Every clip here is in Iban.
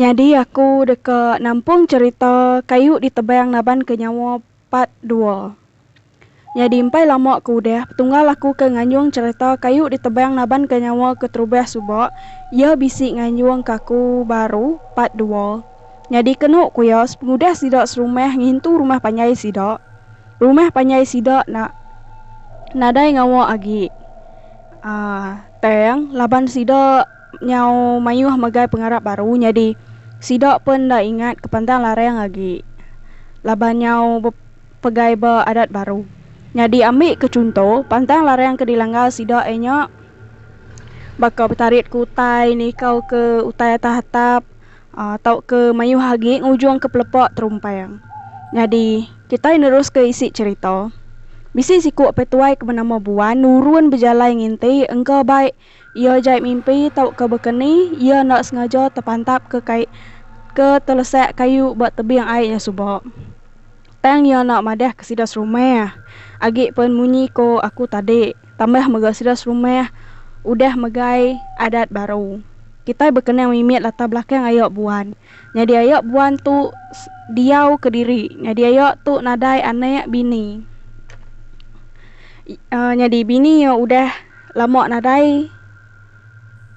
Nyadi aku deka nampung cerita Kayu Ditebang Nabanka Nyawa part dua. Nyadi empai lama ke udah, Petunggal aku ke nganjung chereta kayu ditebang nabanka nyawa keterubah suba iya bisi nganjung ke aku baru, part dua. Nyadi kenu ku iya, sepengudah sida serumah ngintu rumah panjai sida, rumah panjai sida enda nadai ngawa agi uhh tang laban sida nyau mayuh megai pengarap baru nyadi sida pun enda ingat ke pantang larang agi laban nyau. Pegai ba adat baru. Nyadi ambi ke chunto, pantang larang ke dilanggar sida iya nya baka betarit ke utai, nikau ke utai atas atap tauka mayuh agi ngujung ke pelepa terumpang. Nyadi kitai neruska isi cherita. Bisi siku apai tuai ke benama Buan nurun bejalai nginti engka bai Iya jai mimpi tauka bekeni iya enda sengaja tepantap ke kai ke telesak kayu ba tebing ai nya suba. Tang iya enda madah ke sida serumah agi pen munyi ko aku tadi tambah mega sida serumah udah megai adat baru. Kitai bekenang mimit latar belakang aya buan. Nyadi ayak buan tu diau kediri. Nyadi ayak tu nadai anek bini. Nyadi bini iya udah lama nadai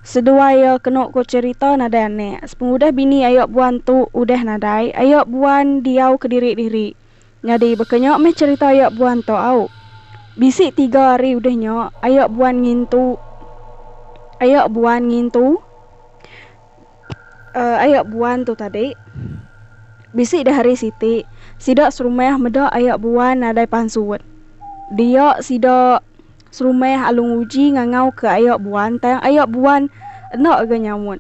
seduai iya kenu ko cherita nadai anek. Sepengudah bini ayak buan tu udah nadai, ayak buan diau kediri diri. Nyadi baka nya meh cherita ayak buan tu au. Bisi tiga hari udah nya ayak buan ngintu ayak buan ngintu. Uh aya buan tu tadi. Bisi deh hari siti, sida serumah meda aya buan nadai pansut. Dia sida serumah alu nguji ngangauka aya buan tang aya buan enda ga nyaut.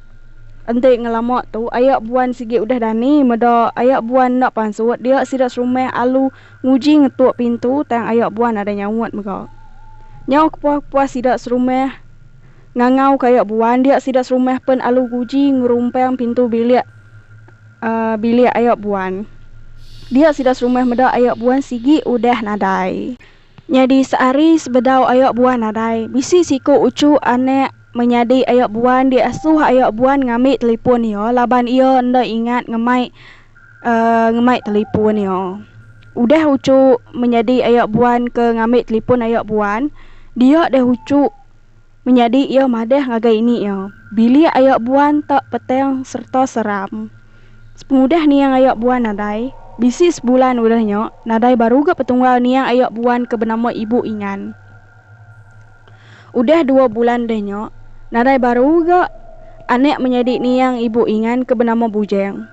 Enti ngelama tu aya buan sigi udah dani meda aya buan enda pansut dia sida serumah alu nguji ngetuk pintu tang aya buan nadai nyaut mega. Nyau kepuah-kepuah sida serumah. ngangau kayak buan dia sida serumah pen alu guji ngerumpang pintu bilik uhh bilik ayak buan. Dia sida serumah meda ayak buan sigi udah nadai. Nyadi sehari sebedau ayak buan nadai, bisi siku uchu anak menyadi ayak buan di asuh ayak buan ngambi telipun iya laban iya enda ingat ngemai uhh ngemai telipun iya. Udah uchu menyadi ayak buan ke ngambi telipun ayak buan, dia deh uchu. Menyadi iya madah ngagai ini iya, bilik ayo buan ta petang sereta seram. Sepengudah niang ayo buan nadai, bisi sebulan udah nya, nadai baru ga petunggal niang ayo buan ke benama Ibu Ingan. Udah dua bulan udah nya, nadai baru ga anak menyadi niang Ibu Ingan ke benama Bujang.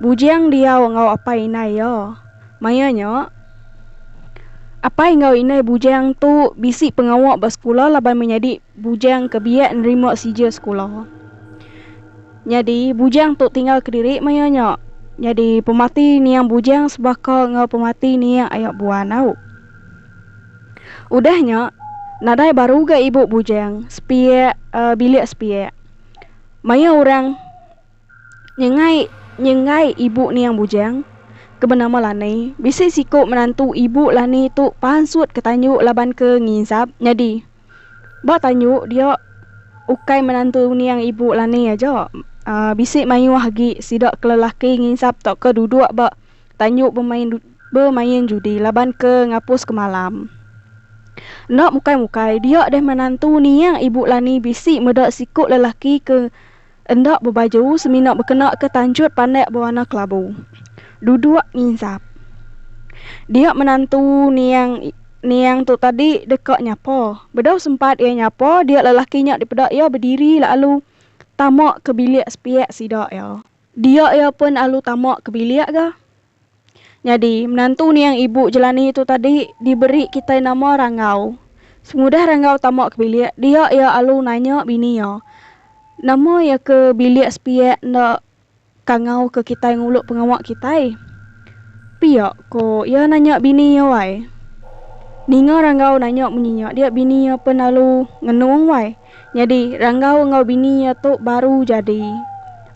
Bujang diau enggau apai indai iya. Maya nya, apai enggau indai Bujang tu bisi pengawa ba sekula laban menyadi Bujang ke biak nerima sijil sekula. Nyadi, Bujang tu tinggal kediri maya nya. Nyadi, pemati niang Bujang sebaka enggau pemati niang Ayak Buan au. Udah nya, nadai baru ga ibu Bujang sepiak bilik sepiak. Maya orang Nyengai nyengai ibu niang bujang ke benama Lani, bisi siku menantu ibu Lani tu pansut ke tanyu laban ke nginsap nyadi ba tanyu dia ukai menantu niang ibu Lani aja uhh bisi mayuh agi sida ke lelaki nginsap tauka duduk ba tanyu bemain bemain judi laban ke ngapus ke malam. Enda mukai mukai dia deh menantu niang ibu Lani bisi meda siku lelaki ke. Enda bebaju semina bekenaka tanjut pandak bewarna kelabu. Duduk nginsap. Dia menantu niang niang tu tadi deka nyapa. Bedau sempat iya nyapa, dia lelaki nya dipeda iya bediri lalu tama ke bilik sepiak sida iya. Dia iya pun alu tama ke bilik ga. Nyadi, menantu niang ibu Jelani tu tadi diberi kitai nama Ranggau. Sengudah Ranggau tama ke bilik dia iya alu nanya bini iya, Nama iya ke bilik sepiak enda kangau ke kitai ngulu pengawa kitai? Pia ko iya nanya bini iya wai. Ninga Ranggau nanya munyi nya dia bini iya pen alu ngenung wai. Nyadi Ranggau enggau bini iya tu baru jadi.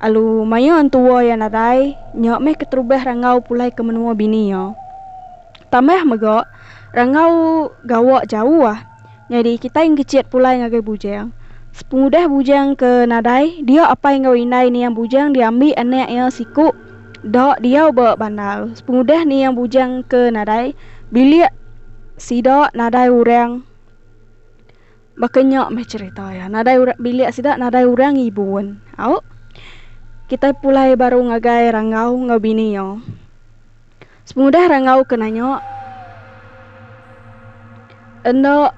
Alu maya entua iya nadai, nya meh keterubah Ranggau pulai ke menua bini iya. Tambah mega, Ranggau gawa jauh. Nyadi kitai engkecit pulai ngagai bujang. Sepengudah bujang ke nadai, dia apai enggau indai niang bujang diambi anak iya siku da diau ba bandar. Sepengudah niang bujang ke nadai, bilik sida nadai orang. Baka nya meh cherita iya. Nadai orang bilik sida nadai orang ibun. Au. Kitai pulai baru ngagai Rangau enggau bini iya. Sepengudah Rangau ke nanya, Enda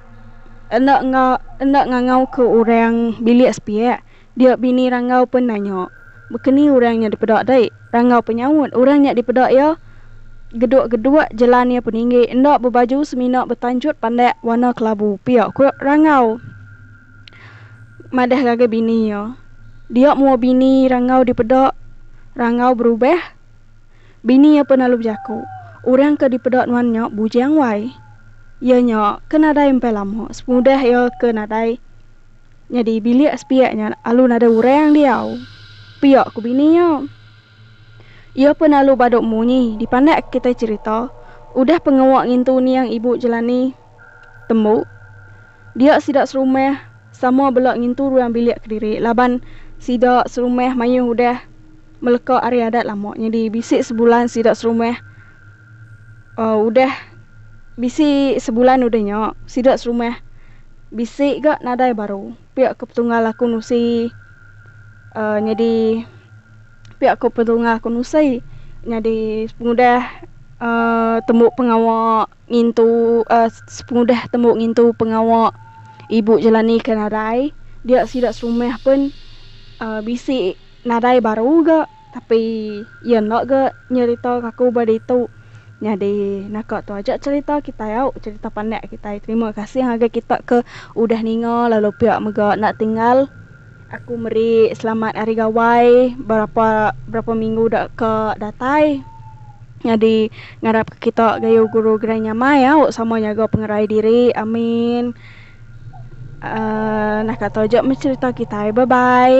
enda enggau enda ngangau ke orang bilik sepiak, Dia bini Ranggau pen nanya, Bekeni urang nya dipeda dei? Ranggau pen nyaut, Urang nya dipeda iya geduk-geduk jelan iya peninggi, enda bebaju semina betanjut pandak warna kelabu pia, ku Ranggau madah ngagai bini iya. Dia mua bini Ranggau dipeda, Ranggau berubah. Bini iya pen lalu bejaku, Urang ke dipeda nuan nya bujang wai. Iya nya ke nadai empai lama semudah iya ke nadai Nyadi bilik sepiak nya alu nadai urang diau, pia ku bini nya. Iya pen alu badu munyi dipandak kitai cherita udah pengawa ngintu niang ibu Jelani. Tembu, dia sida serumah sama bela ngintu ruang bilik kediri laban sida serumah mayuh udah meleka ari adat lama nyadi bisi sebulan sida serumah Udah bisi sebulan udah nya, sida serumah bisi ga nadai baru. Pia ko Petunggal aku nusi nyadi pia ko Petunggal aku nusi nyadi pengudah tembu pengawa ngintu pengudah tembu ngintu pengawa ibu Jelani ke nadai. Dia sida serumah pun bisi nadai baru ga. Tapi iya enda ga nyerita ka aku ba ditu. Nyadi naka tu aja cerita kitai au, cerita pandak kitai. Terima kasih ngagai kita ke udah ninga lalu pia mega enda tinggal. Aku meri selamat hari gawai berapa berapa minggu da ka datai. Nyadi ngarap ka kita gayu guru gerai nyamai au sama nyaga pengerai diri. Amin. Aaa naka tu aja meh cerita kitai. Bye bye.